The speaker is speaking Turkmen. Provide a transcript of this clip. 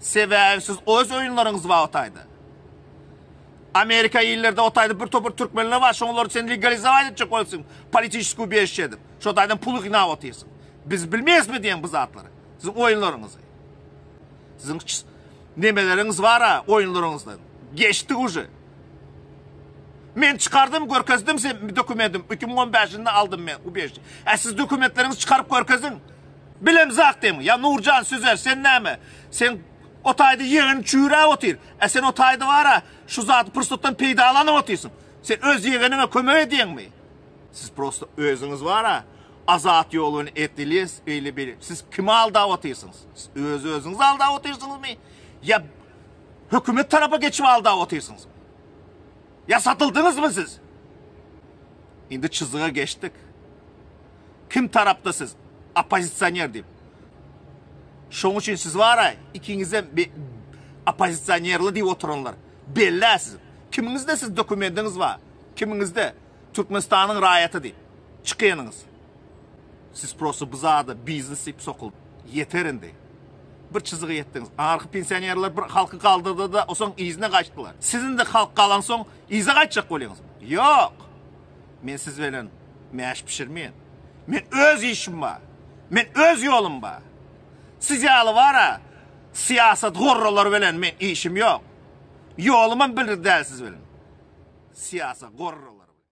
Sebäbi siz öz oýunlaryňyz bar otaýda. Amerika illerde otaýda bir topar türkmenler bar, şoňlar sen legalizować etjek bolsaň, politiskiý beýiş edip, şo taýdan pul ýygnap otyrsyň. Biz bilmeýäsmi diýen bu zatlary? Siz oýunlaryňyzy. Siziň nemeleriňiz bar-a oýunlaryňyzdan. Geçdik uje. Men çykardym, görkezdim sen dokumentim. 2015-nde aldym men u beýşi. Ä siz dokumentleriňizi çykaryp görkeziň. Bilemz akdemiň. Ýa Nurjan süzer, sen näme? Sen o taýda ýegeni çüýräp otyr. Ä sen o taýda bar-a, şu zady pursatdan peýdalanyp otyrsyň. Sen öz ýegeniňe kömek edýeňmi? Siz prosta özüňiz bar-a, Azat ýolun etdilis, beýle beýle. Siz kimi aldap otyrsyňyz? Siz öz özüňizi aldap otyrsyňyzmy? Ýa hökümet tarapa geçip aldap otyrsyňyz? Ýa satyldyňyzmy siz? Indi çyzyga geçdik. Kim tarapda siz? Oppozisioner diýip. Şoň üçin siz bara ikiňizem oppozisionerli diýip oturanlar. Bellä siz. Kimiňizde siz dokumentiňiz bar? Kimiňizde Türkmenistanyň raýaty diýip çykynyňyz? Siz prosta bu zada biznes diýip sokuldy. Ýeter indi. Bir çyzyga ýetdiňiz. Anarki pensionerler bir halky galdyrdy-da, osoň yzyna gaçdylar. Siz indi halk galansoň yza gaçjak bolýaňyzmy? Ýok. Men siz bilen mäş bişirmeýän. Men öz işim bar. Men öz ýolum bar. Siz ýaly bar-a, syýasat gorralary bilen men işim ýok. Ýolumam bir däl siz bilen. Syýasat gorralary bilen.